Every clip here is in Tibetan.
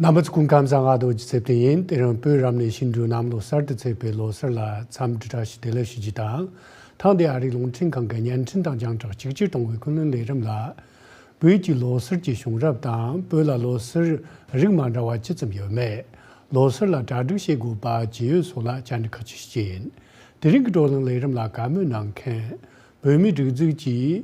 གནའ་མི་ཚོ་སྐུ་ཁམས་གསང་སྔགས་རྡོ་རྗེ་རྩེ་བརྟན་ཡིན་དེ་རིང་བོད་རབ་གནས་ཤིང་འབྲུག་གནམ་ལོ་གསར་དུ་ཚེས་པའི་ལོ་གསར་ལ་འཚམས་འདྲི་བཀྲ་ཤིས་བདེ་ལེགས་ཞུ་རྒྱུ་དང་ཐང་དེ་ཨ་རིའི་རླུང་འཕྲིན་ཁང་གི་བརྙན་འཕྲིན་དང་རྒྱང་བསྒྲགས་གཅིག་གྱུར་གཏོང་བའི་ཀུན་གླེང་ལས་རིམ་ལ། བོད་ཀྱི་ལོ་གསར་གྱི་བྱུང་རབས་དང་བོད་ལ་ལོ་གསར་རིགས་མ་འདྲ་བ་ཇི་ཙམ་ཡོད་མེད། ལོ་གསར་ལ་གྲ་སྒྲིག་བྱེད་དགོས་པ་ཇི་ཡོད་སོགས་ལ་བཅར་འདྲི་ཁག་གཅིག་བྱེད་ཀྱི་ཡིན། དེ་རིང་གི་བགྲོ་གླེང་ལས་རིམ་ལ་བཀའ་མོལ་གནང་མཁན། བོད་མིའི་སྒྲིག་འཛུགས་ཀྱི།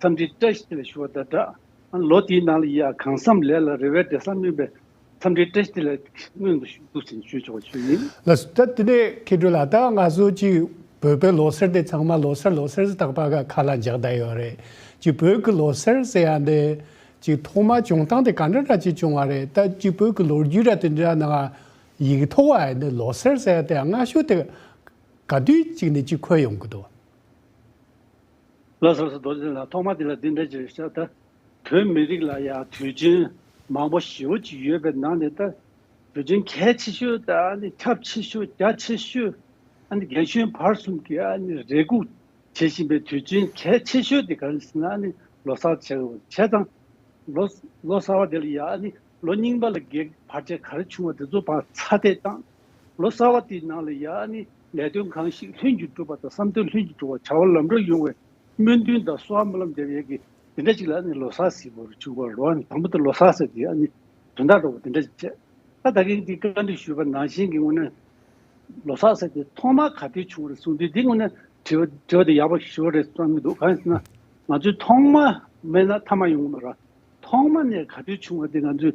འཚམས་འདྲིའི་བཀྲ་ཤིས་ལས་ཞུ་བ་དང་སྦྲགས། ལོ་དེའི་ནང་ལ་ཡིད་ཨ་གང་བསམ་ལས་ལ་རེ་བའི་འབྲས་བཟང་སྨིན་པའི་འཚམས་འདྲིའི་བཀྲ་ཤིས་ལས་སྔོན་དུ་ཞུ་གཏུགས་ཆེན་ཞུས་ཆོག་པ་ཞུས་ཡིན། ལ་སུ་ད་དེ་ནས་ཁེ་དྲུག་ལ་ད་ང་གསོལ་ཅིག་བོད་པའི་ལོ་སར་དེ་ཚང་མ་ལོ་སར་ལོ་སར་ཟི་ཐག་པ་ག་ཁ་ལ་འཇག་གདའ་ཡོད་རེད་ཅིག་བོད་ཀྱི་ལོ་སར་ཟེར་ཡ་འདི་ཅིག་ཐོག་མ་བྱུང་སྟངས་དེ་ག་འདྲ་འདྲ་ཅིག་བྱུང་བ་རེད་ད་ཅིག་བོད་ཀྱི་ལོ་རྒྱུས་ར་དེ་འདྲ་ནང་ཡིག་ཐོག་བ་ཡ་འདི་ལོ་སར་ཟེར་ཡ་དེ་སྔ་ཤོས་དེ་ག་དུས་ཅིག་ནས་ཅིག་འཁོད་ཡོང་གི་འདུག། ལྷ་ས་སུ་རྡོ་རྗེ་ལགས་ཐོག་མར་འདི་ལ་འདི་འདྲ་ཅེས་བཤད་ད། བོད་མི་རིགས་ལ་ཡང་དུས་ཆེན་མང་པོ་ཞེ་བོ་ཅིག་ཡོད་པའི་ནང་ནས་ད། དུས་ཆེན་གལ་ཆེ་ཤོས་ད་ཨ་ནི་ཁྱབ་ཆེ་ཤོས་རྒྱ་ཆེ་ཤོས་ཨ་ནི་རྒན་གཞོན་བར་གསུམ་གྱིས་ཨ་ནི་རེ་སྒུག་བྱེད་བཞིན་པའི་དུས་ཆེན་གལ་ཆེ་ཤོས་དེ་གང་ཞེ་ན་ཨ་ནི་ལོ་གསར་བྱེད་བྱས་ཙང། ལོ་ལོ་གསར་བ་དེ་ལ་ཡང་ཨ་ནི་ལོ་རྙིང་པ་ལ་བགེགས་བར་ཆད་ག་རེ་བྱུང་བ་དེ་ཚོ་བར་ཚ་དེད་ཙང། ལོ་གསར་བ་དེའི་ནང་ལ་ཡང་ནི་ལས་དོན་གང་ཞིག་ལྷུན་གྱིས་འགྲུབ་པ་དང་བསམ་དོན་ལྷུན་གྱིས་འགྲུབ་བར་བྱ་བ་ལམ་འགྲོ་ཡོང་བའི་སྨོན་འདུན་དང་གསོལ་བ་སྨོན་ལམ་བརྒྱབ་ཡས་ཀྱི་དེ་འདྲ་ཅིག་ལ་ནི་ལོ་གསར་ཟེར་བར་བྱུང་བར་འགྲོ་བ་ནི་དང་པོ་དེ་ལོ་གསར་ཟེར་དེ་ནི་དོན་དག་འགྲོ་བ་དེ་འདྲ་ཅིག་བྱས། ད་ད་གིན་གྱིས་བཀའ་འདྲི་ཞུས་པར་ནང་བཞིན་གྱི་ངོས་ནས་ལོ་གསར་ཟེར་དེ་ཐོག་མར་ག་དུས་བྱུང་བ་རེད་གསུངས་དུས་དེའི་ངོས་ནས་དྲི་བ་དྲི་བ་དེ་ཡག་པོ་ཞུ་བ་རེད་བསམ་གྱི་འདུག་གང་ཡིན་ཟེར་ན་ང་ཚོས་ཐོག་མ་མེད་ན་མཐའ་མ་ཡོང་གི་མ་རེད། ཐོག་མ་ནས་ག་དུས་བྱུང་བ་དེ་ང་ཚོས་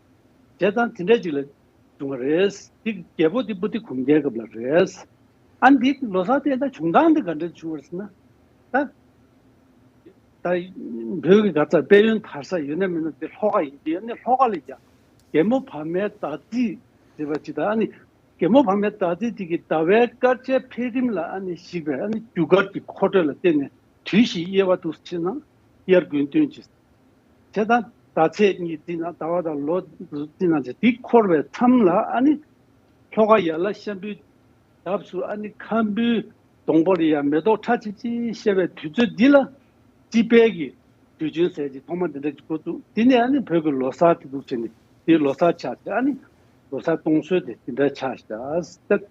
བྱས་ཙང་དེ་འདྲས་ཅིག་ལ་བྱུང་བ་རེད། འདི་རྒྱལ་པོ་འདི་པུ་ཏི་གུང་རྒྱལ་སྐབས་ལ་རེད། ཨ་འདི་ལོ་སར་བསྟན་ན་བྱུང་སྟངས་འདི་ག་འདྲས་བྱུང་བར་ཟེར་ན། ད་ད་བོད་ཀྱི་ག་ཚ་དཔལ་ཡོན་དར་ས་ཡོད་ན་མེད་ན་འདི་ལྷོ་ཁ་ཡིན་གྱི་ཨ་ནི་ལྷོ་ཁ་ལ་ཡ། རྒན་མོ་བག་མའི་ཟླ་རྩིས་ཟེར་བ་ཅིག་དང་ཨ་ནི་རྒན་མོ་བག་མའི་ཟླ་རྩིས་དེ་གི་ཟླ་བའི་སྐར་ཆའི་འཕེལ་རིམ་ལ་ཨ་ནི་གཞིགས་པས་ཨ་ནི་རྒྱུ་སྐར་གྱི་འཁོར་འགྲོས་ལ་བརྟེན་ནས་དུས་བཞི་དབྱེ་བ་དུ་ཕྱེ་ན་དབྱར་དགུན་སྟོན་གྱི་དེ་དང་ཟླ་ཚེས་གཉིས་བརྩིས་ན་ཟླ་བ་དང་ལོ་བརྩིས་ན་དེ་དེ་འཁོར་བའི་མཚམས་ལ་ཨ་ནི། ལྷོ་ཁ་ཡར་ལ་ཤམ་བུའི་འདབས་སུ་ཨ་ནི་ཁམ་བུའི་སྡོང་པོ་རེ་ཡང་མེ་ཏོག་ཁྲ་ཆིལ་ཆིལ་བཤལ་བའི་དུས་ཚོད་འདི་ལ། དཔྱིད་དཔལ་གྱི་དུས་ཆེན་ཟེར་གྱི་ཐོག་མ་འདི་འདྲ་གི་འགོ་བཙུགས་དེ་ནས་ཨ་ནི་བོད་ཀྱི་ལོ་སར་དེ་འཛུགས་བྱས་ནས་དེ་ལོ་སར་ཆགས་ཏེ་ཨ་ནི། ལོ་སར་གཏོང་སྲོལ་དེ་དེ་འདྲ་ཆགས་སྟབས།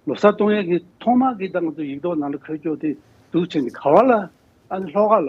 ལོ་སར་གཏོང་ཡས་ཀྱི་ཐོག་མ་གི་ད་ང་ཚོ་ཡིག་ཐོག་ནང་ལ་འཁོད་ཆོག་དེ་འཛུགས་བྱས་ནས་ག་བ་ལ་ཨ་ནི་ལྷོ་ཁ་ལ།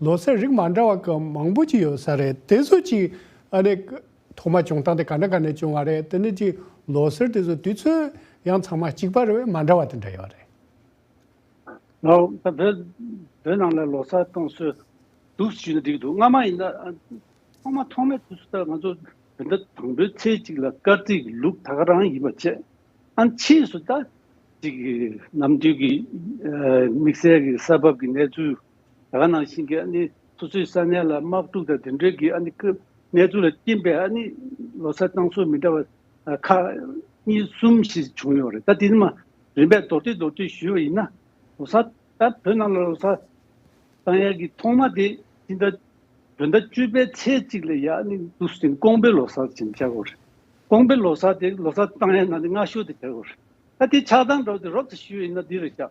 ལོ་སར་རིགས་མ་འདྲ་བ་ག་མང་པོ་ཅིག་ཡོད་ས་རེད་དེ་ཚོ་ཅིག་ཨནི་ཐོག་མ་བྱུང་སྟངས་དེ་ག་འདྲ་ག་ནས་བྱུང་བ་རེད་དེ་ནི་ཅིག་ལོ་སར་དེ་ཚོ་དུས་ཚོད་ཡང་ཚང་མ་གཅིག་པ་རེད་བས་མ་འདྲ་བ་དེ་འདྲ་ཡོད་རེད། ད་བོད་བོད་ནང་ལ་ལོ་སར་གཏོང་སྲོལ་འདུག་ཞུས་ན་འགྲིག་འདུག་སྔ་མ་ཡིན་ན་ཐོག་མ་ཐོག་མའི་དུས་སུ་ད་ང་ཚོ་བོད་ཟླ་དང་པོའི་ཚེས་གཅིག་ལ་སྐར་རྩིས་ཀྱི་ལུགས་ད་ག་རང་ཡིན་པ་བྱས་ཨན་ཕྱིས་སུ་ད། ཅིག་ནམ་དུས་ཀྱི་དམིགས་བསལ་གྱི་ས་བབ་ཀྱི་གནས་ཚུལ། ད་ག་ནང་བཞིན་གྱི་ཨ་ནི་སོ་སོའི་ས་གནས་ལ་དམག་འཁྲུག་དང་དེ་འབྲེལ་གྱི་ཨ་ནི་ཀི་གནས་ཚུལ་ལ་བསྟིམས་པས་ཨ་ནི་ལོ་སར་གཙང་སོ་མི་འདྲ་བ་ཁག་གཉིས་གསུམ་ཞིག་བྱུང་ཡོད་རེད་ད་དེ་ནི་མ་རིན་པས་མདོར་བསྡུས་མདོར་བསྡུས་ཞུས་པ་ཡིན་ན་ལོ་སར་ད་བོད་ནང་ལ་ལོ་སར་གཙང་ཡས་ཀྱི་ཐོག་མ་དེ་སྤྱི་ཟླ་བོད་ཟླ་བཅུ་པའི་ཚེས་གཅིག་ལ་ཡ་ཨ་ནི་འདུག་ཅིང་ཀོང་པོའི་ལོ་སར་ཅིང་བྱ་དགོས་རེད་ཀོང་པོའི་ལོ་སར་དེ་ལོ་སར་གཙང་ཡས་ནང་ནས་སྔ་ཤོས་དེ་བྱ་དགོས་རེད་ད་དེ་ཆགས་སྡང་འདྲ་བོ་དེ་རོབ་ཏུ་ཞུས་ཡོད་ཡིན་ན་འདི་རུ་བཞག།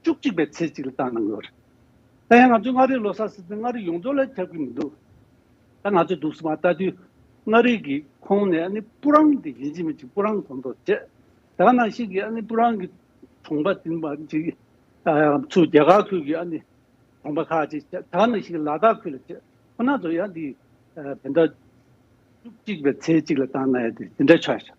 བཅུ་གཅིག་པའི་ཚེས་གཅིག་ལ་བཏང་གནང་ཡོད་རེད། ད་ཡང་ང་ཚོས་མངའ་རིས་ལོ་སར་ཟེར་ཏེ་མངའ་རིས་ཡོངས་རྫོགས་ལ་ཁྱབ་ཀྱི་མི་འདུག་ད་ང་ཚོས་འདུག་སྲིད་པ་ལྟ་དུས་མངའ་རིས་ཀྱི་ཁོངས་ནས་ཨ་ནི་སྤུ་རང་དེ་ཡིན་གཅིག་མིན་གཅིག་སྤུ་རང་གོ་མདོག་བྱེད་དེ་ག་ནང་ཞིག་གིས་ཨ་ནི་སྤུ་རང་གི་གྲོང་པ་དེ་མ་གཅིག་ཚུ་རྒྱལ་ཁ་ཁུལ་གྱི་ཨ་ནི་གྲོང་པ་ཁག་ཅིག་བྱེད་དེ་ག་ནང་ཞིག་གིས་ལ་དྭགས་ཁུལ་ལ་བྱེད་ཁོ་ན་ཚོ་ཡང་འདི་བོད་ཟླ་བཅུ་གཅིག་པའི་ཚེས་གཅིག་ལ་བཏང་གནང་ཡོད་དེ་འདི་འདྲ་ཆགས་ཤིང།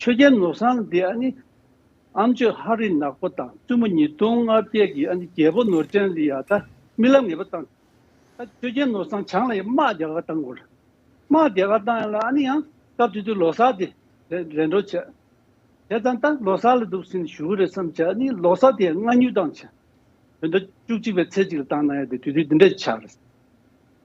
ཆོས་རྒྱལ་ནོར་བཟང་འདི་ཨ་ནི་ཨམ་ཆོས་ཧ་རི་ནག་པོ་དང་བཙུན་མོ་ཉིས་སྟོང་ལྔ་བརྒྱད་ཀྱི་ཨ་ནི་རྒྱལ་པོ་ནོར་ཅན་ལི་ཡ་ད་རྨི་ལམ་ངེས་པ་བཏང་ད་ཆོས་རྒྱལ་ནོར་བཟང་བྱང་ལ་ཡང་དམག་རྒྱ་གར་བཏང་དགོས་དམག་རྒྱ་གར་བཏང་ཡང་ལ་ཨ་ནི་ཡང་སྐབས་དེ་དུས་ལོ་སར་དེ་རེད་འགྲོ་བྱས་བྱས་ཙང་ད་ལོ་སར་ལ་འདུག་ཟིན་ཞུ་གི་རེད་བསམ་བྱས་ཨ་ནི་ལོ་སར་དེ་ཡང་སྔ་སྨྱུག་བཏང་བྱས་བོད་ཟླ་བཅུ་གཅིག་པའི་ཚེས་གཅིག་ལ་བཏང་ན་ཡང་དེ་དུས་དུས་འདི་འདྲ་ཆགས་རེད་བསམ།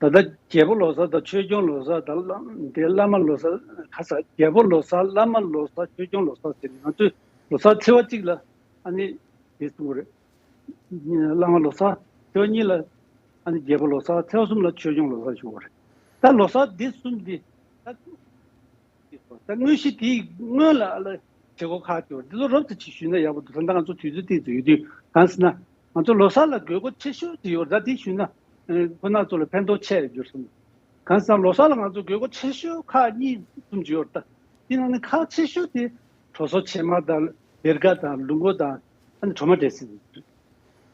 ད་ལྟ་རྒྱལ་པོ་ལོ་སར་དང་ཆོས་སྐྱོང་ལོ་སར་དང་བླ་མ་ལོ་སར། ཁ་ཚ། རྒྱལ་པོ་ལོ་སར་བླ་མ་ལོ་སར་ཆོས་སྐྱོང་ལོ་སར་ཟེར་ནས་ང་ཚོས་ལོ་སར་ཚེས་བ་གཅིག་ལ་ཨ་ནི་དེ་གསུངས་པ་རེད། བླ་མ་ལོ་སར་ཚེས་བ་གཉིས་ལ་ཨ་ནི་རྒྱལ་པོ་ལོ་སར་ཚེས་བ་གསུམ་ལ་ཆོས་སྐྱོང་ལོ་སར་བྱུང་བ་རེད། ད་ལོ་སར་འདི་གསུམ་འདི། དངོས་གཞི་དེ་སྔོན་ལ་བྱེད་སྒོ་ཁག་ཅིག་འདི་ཚོ་རོབ་ཙམ་ཞིག་ཞུས་ན་ཡག་པོ་འདུག་ད་ང་ཚོ་དུས་ཚོད་ལྟས་ཚོད་ཡོད་དུས་གང་སྲིད་ན། ང་ཚོ་ལོ་གསར་ལ་དགོས་མཁོ་ཆེ་ཤོས་དེ་ཡོད་ད་དེ་ཞུས་ན་ཁོ་ན་ཚོ་ལ་ཕན་ཐོག་ཆེ་གྱུར་སོང། གང་སྲིད་ན་ལོ་གསར་ལ་ང་ཚོ་དགོས་མཁོ་ཆེ་ཤོས་ཁག་གཉིས་གསུམ་ཅིག་ཡོད་ད་དེ་ནང་ནས་ཁག་ཆེ་ཤོས་དེ་གྲོ་སོ་ཕྱེ་མ་དང་བེར་ཀ་དང་ལུག་མགོ་དང་ཨ་ནི་གྲོ་མ་འདྲེས་སྲིད་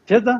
དེ་དང།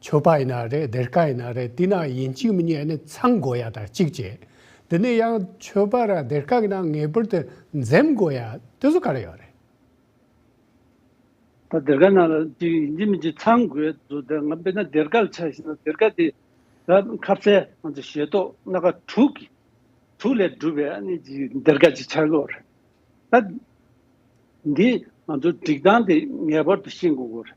ཆོས་པ་ཡིན་ན་རེད་སྡེར་ཁ་ཡིན་ན་རེད་དེ་ན་ཡིན་གཅིག་མི་རྙེད་ནི་ཚང་དགོས་ཡ་དང་གཅིག་བྱེད་དེ་ནས་ཡང་ཆོས་པ་ར་སྡེར་ཁ་གི་ནང་ངེས་པར་དུ་འཛེམ་དགོས་ཡ་དེ་ཚོ་ག་རེ་ཡོད་རེད། ད་སྡེར་ཁ་ནང་ལ་གཅིག་ཡིན་གཅིག་མིན་གཅིག་ཚང་དགོས་ཡ་དེ་ཚོ་ང་དཔེར་ན་སྡེར་ཁ་ལ་ཆ་བཞེས་ན་སྡེར་ཁ་དེ་ད་ཁ་བསལ་ང་ཚོ་ཞེ་ཏོག་སྣ་ཁ་དྲུག་གི་དྲུག་ལས་གྲུབ་པའི་ཨ་ནི་སྡེར་ཁ་ཅིག་ཆགས་དགོས་རེད་ད། འདི་ང་ཚོ་སྒྲིག་སྟངས་དེ་ངེས་པར་དུ་ཤེས་དགོས་དགོས་རེད་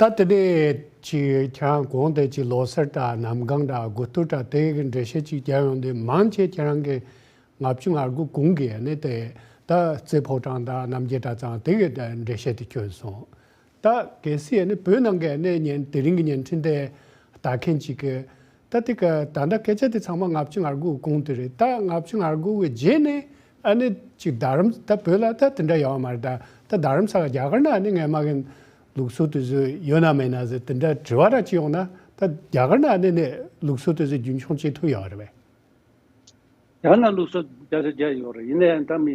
ད་ལྟ་ནས་ཅིག་ཁྱེད་རང་གོང་དེ་ཅིག་ལོ་སར་དྲ་གནམ་གང་དྲ་དགུ་སྟོད་དྲ་དེ་གི་འགྲེལ་བཤད་ཅིག་རྒྱབ་ཡོང་དུས་མང་ཆེ་ཁྱེད་རང་གི་ང་བཅུ་ང་དགུ་གུང་གི་ཡན་ནི་དེ་ད་རྩེ་ཕོ་བྲང་དྲ་གནམ་རྒྱལ་དྲ་ཚང་དེ་གི་འགྲེལ་བཤད་དེ་གྱོན་སོང་ད་གལ་སྲིད་ཡན་ནི་བོད་ནང་གི་ཡན་ནི་ཉན་དེ་རིང་གི་ཉན་འཕྲིན་དེ་ལྟ་མཁན་ཅིག་གི་ད་ལྟའི་ཀ་ད་ལྟ་སྐད་ཆ་དེ་ཚང་མ་ལྔ་བཅུ་ང་དགུ་གོང་དུ་རེད་ད་ལྔ་བཅུ་ང་དགུ་བའི་རྗེས་ནས་ཨ་ནེ་གཅིག་རྡ་རམ་ད་བོད་ལ་ད་དེ་འདྲ་ཡོང་བ་མ་རེད་ད་རྡ་རམ་ས་ལ་རྒྱ་གར་ན་ཨ་ནེ་ངའི་མ་གན་ལུགས་སྲོལ་དུ་བཟོས་ཡོད་ན་མེད་ན་ཟེར་དེ་འདྲ་དྲི་བ་ར་གཅིག་ཡོང་ན་ད་རྒྱ་གར་ན་ཨ་ནེ་ནས་ལུགས་སྲོལ་དུ་བཟོས་རྒྱུན་འཁྱོངས་བྱེད་ཐུབ་ཡོད་རེད་བས། རྒྱ་ནག་ལུགས་སྲོལ་རྒྱ་ཆ་རྒྱ་ཡོད་རེད་ཡིན་ན་ཡང་ད་མི་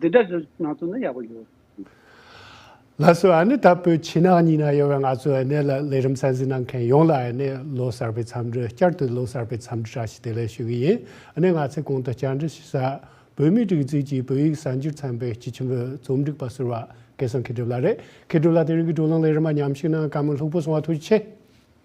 འདི་འདྲ་ཞིག་ང་ཚོ་ནི་ཡག་པོ་ཡོད། ལྷ་བཟོ་ཨ་ནེ་ད་བོད་ཕྱི་ནང་གཉིས་ན་ཡོད་པའི་ང་ཚོའི་ཨ་ནེ་ལ་ལས་རིམ་གསན་གཟིགས་གནང་མཁན་ཡོངས་ལ་ཨ་ནེ་ལོ་གསར་པའི་འཚམས་འདྲི་བསྐྱར་དུ་ལོ་གསར་པའི་འཚམས་འདྲི་འདྲ་ཞིག་དེ་ལས་ཞུ་གི་ཡིན་ཨ་ནེ་ང་ཚོས་གོང་དུ་བསྐྱར་འདྲི་ཞུ་ས། བོད་མིའི་སྒྲིག་འཛུགས་ཀྱིས་བོད་ཡིག་གསར་འགྱུར་ཚན་པའི་སྤྱི་ཆིངས་བོད་རྩོམ་སྒྲིག་པ་ཟུར་བ་སྐལ་བཟང་མཁས་གྲུབ་ལགས་རེད་མཁས་གྲུབ་ལགས་དེ་རིང་གི་བགྲོ་གླེང་ལས་རིམ་པ་ཉམས་ཞིབ་གནང་སྐབས་མི་ལྷུག་པོ་སོང་བ་ཐུགས་རྗེ་ཆེ།